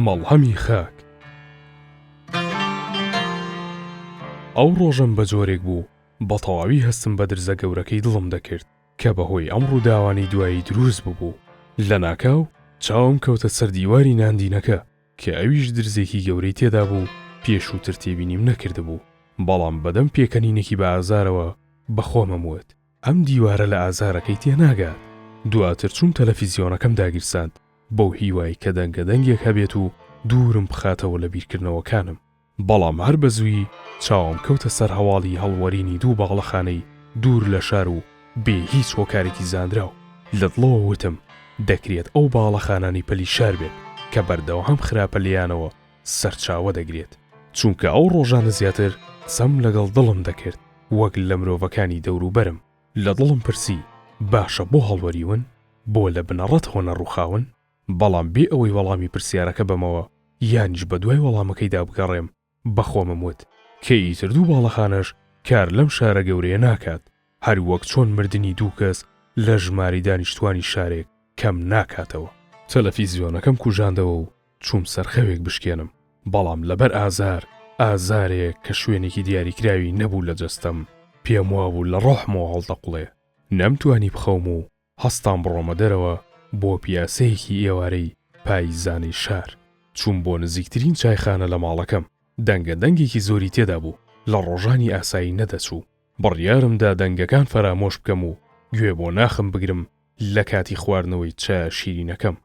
مەڵهەمی خاک ئەو ڕۆژەم بە جۆرێک بوو بە تەواوی هەستم بە درزە گەورەکەی دڵم دەکرد کە بەهۆی ئەم ڕووداوانی دوایی دروست ببوو لە ناکاو چاوم کەوتە سەر دیواری ناندینەکە کە ئەویش درزێکی گەورەی تێدا بوو پێشووتر تێبینیم نەکردبوو بەڵام بەدەم پێکەنینێکی بە ئازارەوە بە خۆمم وت ئەم دیوارە لە ئازارەکەی تێناگات. دواتر چووم تەلەفیزیۆنەکەم داگیرساند بەو هیوای کە دەنگە دەنگێک هەبێت و دوورم بخاتەوە لە بیرکردنەوەکانم. بەڵام هەر بە زوویی چاوم کەوتە سەر هەواڵی هەڵوەرینی دوو باڵەخانەی دوور لە شار و بێ هیچ هۆکارێکی زانراو. لە دڵەوە وتم دەکرێت ئەو باڵەخانانەی پەلی شار بێت کە بەردەوام خراپە لێیانەوە سەرچاوە دەگرێت، چونکە ئەو ڕۆژانە زیاتر قسەم لەگەڵ دڵم دەکرد وەک لە مرۆڤەکانی دەوروبەرم، لە دڵم پرسی باشە بۆ هەڵوەریون؟ بۆ لە بنەڕەتەوە نەڕووخاون؟ بەڵام بێ ئەوەی وەڵامی پرسیارەکە بەمەوە یانیش بەدوای وەڵامەکەیدا بگەڕێم، بە خۆمم وت کە ئیتر دوو باڵەخانەش کار لەم شارە گەورەیە ناکات، هەر وەک چۆن مردنی دوو کەس لە ژمارەی دانیشتوانی شارێک کەم ناکاتەوە. تەلەفیزیۆنەکەم کوژاندەوە و چووم سەر خەوێک بشکێنم، بەڵام لەبەر ئازار، ئازارێک کە شوێنێکی دیاریکراوی نەبوو لە جەستەم، پێم وابوو لە ڕۆحمەوە هەڵدەقوڵێ. نەمتوانی بخەوم و هەستام بڕۆمە دەرەوە بۆ پیاسەیەکی ئێوارەی پاییزانەی شار. چووم بۆ نزیکترین چایخانە لە ماڵەکەم. دەنگە دەنگێکی زۆری تێدا بوو، لە ڕۆژانی ئاسایی نەدەچوو. بڕیارم دا دەنگەکان فەرامۆش بکەم و گوێ بۆ ناخم بگرم لە کاتی خواردنەوەی چایە شیرینەکەم.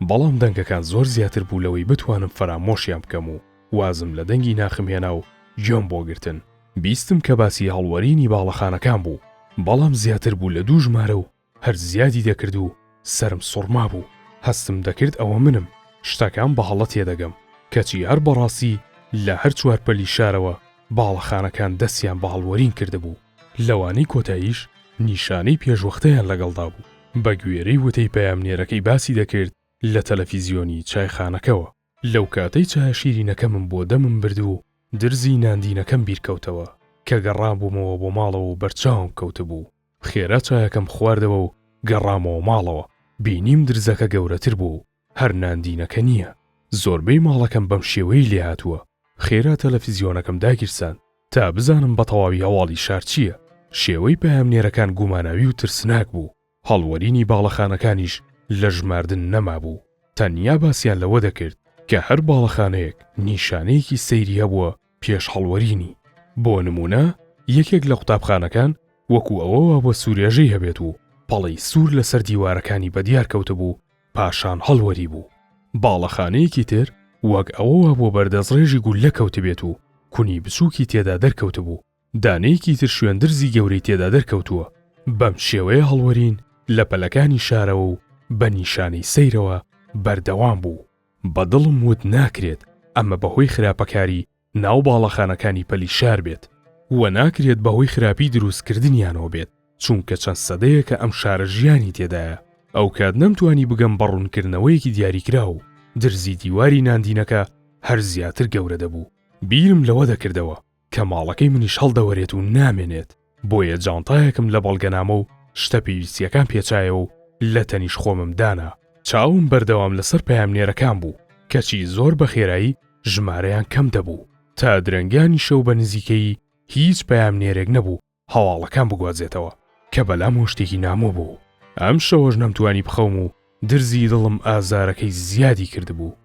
بەڵام دەنگەکان زۆر زیاتر بوو لەوەی بتوانم فەرامۆشیان بکەم و وازم لە دەنگی ناخم هێنا و گوێم بۆ گرتن بیستم کە باسی هەڵوەرینی باڵەخانەکان بوو بەڵام زیاتر بوو لە دوو ژمارە و هەر زیادی دەکرد و سەرم سوڕمابوو هەستم دەکرد ئەوە منم شتەکان بە هەڵە تێدەگەم کەچی هەر بەڕاستی لە هەر چوار پەلی شارەوە باڵەخانەکان دەستیان بە هەڵوەرین کردبوو. لەوانەی کۆتاییش نیشانەی پێشوەختەیان لەگەڵدا بوو، بەگوێرەی وتەی پەیامنێرەکەی باسی دەکرد لە تەلەفیزیۆنی چایخانەکەوە، لەو کاتەی چایە شیرینەکەمم بۆ دەمم برد و درزی ناندینەکەم بیرکەوتەوە، کە گەڕابوومەوە بۆ ماڵەوە و بەرچاوم کەوتبوو، خێرا چایەکەم خواردەوە و گەڕامەوە ماڵەوە، بینیم درزەکە گەورەتر بووە و هەر ناندینەکە نییە. زۆربەی ماڵەکەم بەم شێوەیەی لێهاتووە. خێرا تەلەفزیۆنەکەم داگیرساند تا بزانم بەتەواوی هەواڵی شار چییە. شێوەی پەیامنێرەکان گوماناوی و ترسناک بوو. هەڵوەرینی باڵەخانەکانیش لە ژماردن نەمابوو. تەنیا باسیان لەوە دەکرد کە هەر باڵەخانەیەک نیشانەیەکی سەیری هەبووە پێش هەڵوەرینی. بۆ نموونە یەکێک لە قوتابخانەکان وەکوو ئەوە وا بووە سوورێژەی هەبێت و پەڵەی سوور لەسەر دیوارەکانی بەدیار کەوتبوو پاشان هەڵوەریبوو. باڵەخانەیەکی تر وەک ئەوە وا بووە بەردەستڕێژی گوللە کەوتبێت و کونی بچووکی تێدا دەرکەوتبوو دانەیەکی تر شوێندرزی گەورەی تێدا دەرکەوتووە. بەم شێوەیە هەڵوەرین لە پەلەکانی شارەوە و بە نیشانەی سەیرەوە بەردەوام بوو. بە دڵم وت ناکرێت ئەمە بە هۆی خراپەکاری ناو باڵەخانەکانی پەلی شار بێت و ناکرێت بە هۆی خراپی دروستکردنیانەوە بێت، چونکە چەند سەدەیەکە ئەم شارە ژیانی تێدایە. ئەوکات نەمتوانی بگەم بە ڕوونکردنەوەیەکی دیاریکراو، درزی دیواری ناندینەکە هەر زیاتر گەورە دەبوو. بیرم لەوە دەکردەوە کە ماڵەکەی منیش هەڵدەوەرێت و نامێنێت بۆیە جانتایەکم لە بەڵگەنامە و شتە پێویستیەکان پێچایەوە و لە تەنیش خۆمم دانا چاوم بەردەوام لەسەر پامنێرەکان بوو کەچی زۆر بە خێرایی ژمارەیان کەم دەبوو تا درەنگانی شەو بە نزیکەی هیچ پامنێرێک نەبوو هەواڵەکان بگوازێتەوە کە بەلام و شتێکی نامۆ بوو ئەم شەوەش نەمتوانی بخەوم و درزی دڵم ئازارەکەی زیادی کردبوو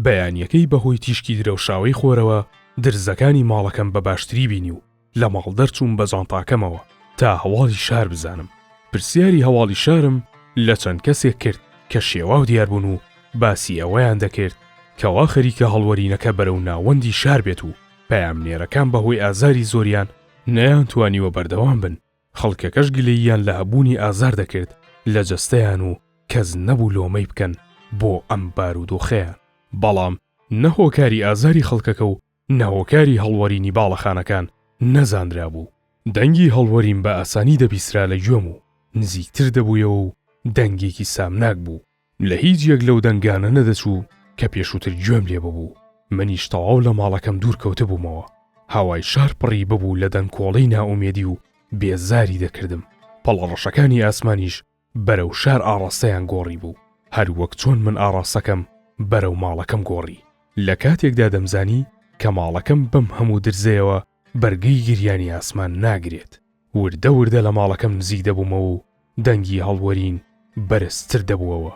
بەیانیەکەی بەهۆی تیشکی درەوشاوەی خۆرەوە درزەکانی ماڵەکەم بە باشتری بینی و لە ماڵ دەرچووم بە جانتاکەمەوە تا هەواڵی شار بزانم پرسیاری هەواڵی شارم لە چەند کەسێک کرد کە شێواو دیار بوون و باسی ئەوەیان دەکرد کەوا خەریکە هەڵوەرینەکە بەرەو ناوەندی شار بێت و پەیامنێرەکان بەهۆی ئازاری زۆریان نەیانتوانیوە بەردەوام بن، خەڵکەکەش گلەییان لە هەبوونی ئازار دەکرد لە جەستەیان و کەس نەبوو لۆمەی بکەن بۆ ئەم بارودۆخەیان. بەڵام نە هۆکاری ئازاری خەڵکەکە و نە هۆکاری هەڵوەرینی باڵەخانەکان نەزانرابوو. دەنگی هەڵوەرین بە ئاسانی دەبیسترا لە گوێم و نزیکتر دەبوویەوە و دەنگێکی سامناک بوو. لە هیچ یەک لەو دەنگانە نەدەچوو کە پێشووتر گوێم لێ ببوو، منیش تەواو لە ماڵەکەم دوور کەوتبوومەوە، هاوای شار پڕی ببوو لە دەنکۆڵەی نائومێدی و بێزاری دەکردم، پەڵە ڕەشەکانی ئاسمانیش بەرەو شار ئاڕاستەیان گۆڕی بوو، هەر وەک چۆن من ئاڕاستەکەم بەرەو ماڵەکەم گۆڕی. لە کاتێکدا دەمزانی کە ماڵەکەم بەم هەموو درزەیەوە بەرگەی گریانی ئاسمان ناگرێت. وردە وردە لە ماڵەکەم نزیک دەبوومەوە و دەنگی هەڵوەرین بەرزتر دەبووەوە.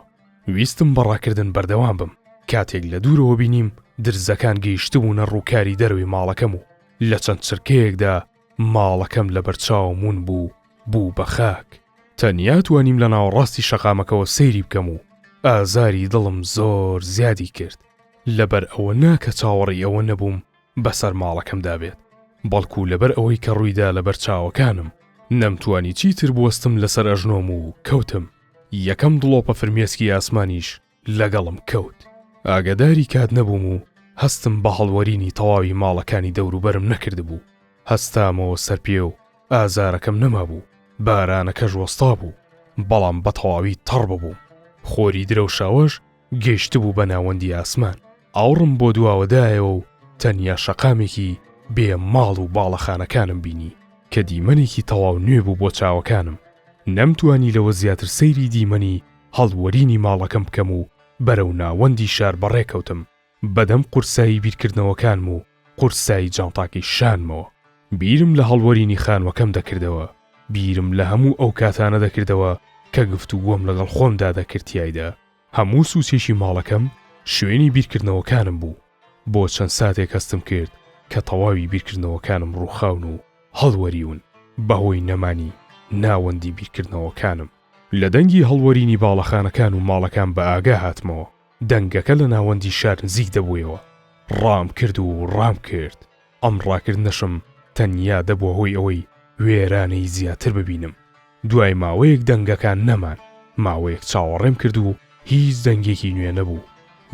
ویستم بە ڕاکردن بەردەوام بم، کاتێک لە دوورەوە بینیم درزەکان گەیشتبوونە ڕووکاری دەرەوەی ماڵەکەم و لە چەند چرکەیەکدا ماڵەکەم لە بەرچاوم ون بوو و بوو بە خاک. تەنیا توانیم لە ناوەڕاستی شەقامەکەوە سەیری بکەم و ئازاری دڵم زۆر زیادی کرد، لەبەر ئەوە نا کە چاوەڕێی ئەوە نەبووم بەسەر ماڵەکەمدا بێت، بەڵکو لەبەر ئەوەی کە ڕوویدا لەبەر چاوەکانم، نەمتوانی چیتر بوەستم لەسەر ئەژنۆم و کەوتم، یەکەم دڵۆپە فرمێسکی ئاسمانیش لەگەڵم کەوت، ئاگەداری کات نەبووم و هەستم بە هەڵوەرینی تەواوی ماڵەکانی دەوروبەرم نەکردبوو، هەستامەوە سەرپێ و ئازارەکەم نەمابوو، بارانەکەش وەستابوو، بەڵام بەتەواوی تەڕ ببووم، خۆری درەوشاوەش گەیشتبوو بە ناوەندی ئاسمان. ئاوڕم بۆ دواوە دایەوە و تەنیا شەقامێکی بێ ماڵ و باڵەخانەکانم بینی کە دیمەنێکی تەواو نوێ بوو بۆ چاوەکانم. نەمتوانی لەوە زیاتر سەیری دیمەنی هەڵوەرینی ماڵەکەم بکەم و بەرەو ناوەندی شار بەڕێکەوتم. بەدەم قورسایی بیرکردنەوەکانم و قورسایی جانتاکەی شانمەوە، بیرم لە هەڵوەرینی خانووەکەم دەکردەوە، بیرم لە هەموو ئەو کاتانە دەکردەوە کە گفتوگۆم لەگەڵ خۆمدا دەکرد تیایدا، هەموو سوچێکی ماڵەکەم شوێنی بیرکردنەوەکانم بوو، بۆ چەند ساتێک هەستم کرد کە تەواوی بیرکردنەوەکانم ڕووخاون و هەڵوەریون بەهۆی نەمانی ناوەندی بیرکردنەوەکانم. لە دەنگی هەڵوەرینی باڵەخانەکان و ماڵەکان بەئاگا هاتمەوە، دەنگەکە لە ناوەندی شار نزیک دەبوویەوە. ڕامکرد و ڕامکرد. ئەم ڕاکردنەشم تەنیا دەبووە هۆی ئەوەی وێرانەی زیاتر ببینم. دوای ماوەیەک دەنگەکە نەمان. ماوەیەک چاوەڕێم کرد و هیچ دەنگێکی نوێ نەبوو.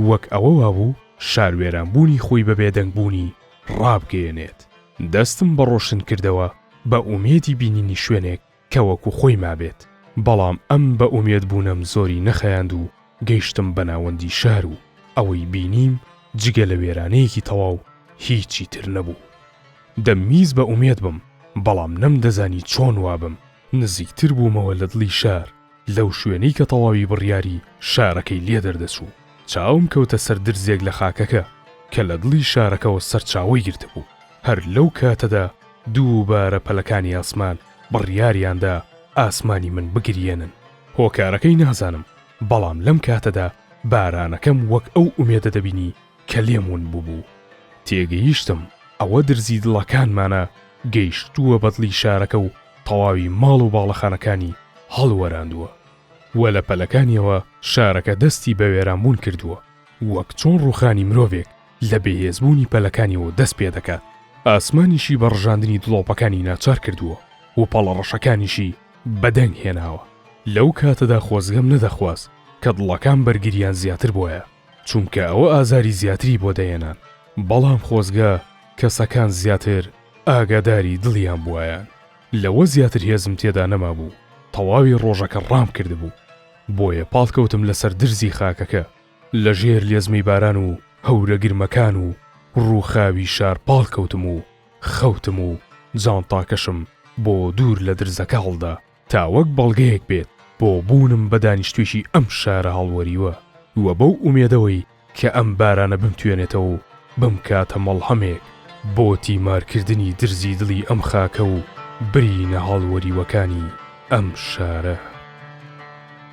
وەک ئەوە وابوو شار وێرانبوونی خۆی بە بێدەنگبوونی ڕابگەیەنێت. دەستم بە ڕۆشنکردەوە بە ئومێدی بینینی شوێنێک. کە وەکو خۆی مابێت، بەڵام ئەم بە ئومێد بوونەم زۆری نەخایاند و گەیشتم بە ناوەندی شار و ئەوەی بینیم جگە لە وێرانەیەکی تەواو هیچی تر نەبوو. دەمویست بە ئومێد بم، بەڵام نەمدەزانی چۆن وابم. نزیکتر بوومەوە لە دڵی شار، لەو شوێنەی کە تەواوی بڕیاری شارەکەی لێ دەردەچوو. چاوم کەوتە سەر درزێک لە خاکەکە کە لە دڵی شارەکەوە سەرچاوەی گرتبوو. هەر لەو کاتەدا دووبارە پەلەکانی ئاسمان بڕیاریاندا ئاسمانی من بگریێنن. هۆکارەکەی نازانم، بەڵام لەم کاتەدا بارانەکەم وەک ئەو ئومێدە دەبینی کە لێم ون بووبوو. تێگەیشتم ئەوە درزی دڵەکانمانە گەیشتووە بەدڵی شارەکە و تەواوی ماڵ و باڵەخانەکانی هەڵوەراندووە و لە پەلەکانیەوە شارەکە دەستی بە وێرانبوون کردووە وەک چۆن ڕووخانی مرۆڤێک لە بێهێزبوونی پەلەکانیەوە دەست پێدەکات، ئاسمانیشی بە ڕژاندنی دڵۆپەکانی ناچار کردووە و پەڵە ڕەشەکانیشی بەدەنگ هێناوە. لەو کاتەدا خۆزگەم نەدەخواست کە دڵەکان بەرگریان زیاتر بۆیە، چونکە ئەوە ئازاری زیاتری بۆ دەهێنان، بەڵام خۆزگە کەسەکان زیاتر ئاگاداری دڵیان بوایان، لەوە زیاتر هێزم تێدا نەمابوو، تەواوی ڕۆژەکە ڕامکردبوو، بۆیە پاڵکەوتم لەسەر درزی خاکەکە. لە ژێر لێزمەی باران و هەورە گرمەکان و ڕووخاوی شار پاڵکەوتم و خەوتم و جانتاکەشم بۆ دوور لە درزەکە هەڵدا تا وەک بەڵگەیەک بێت بۆ بوونم بە دانیشتووێکی ئەم شارە هەڵوەریوە و بەو ئومێدەوەی کە ئەم بارانە بمتوێنێتەوە و بمکاتە مەڵهەمێک بۆ تیمارکردنی درزی دڵی ئەم خاکە و برینە هەڵوەریوەکانی ئەم شارە.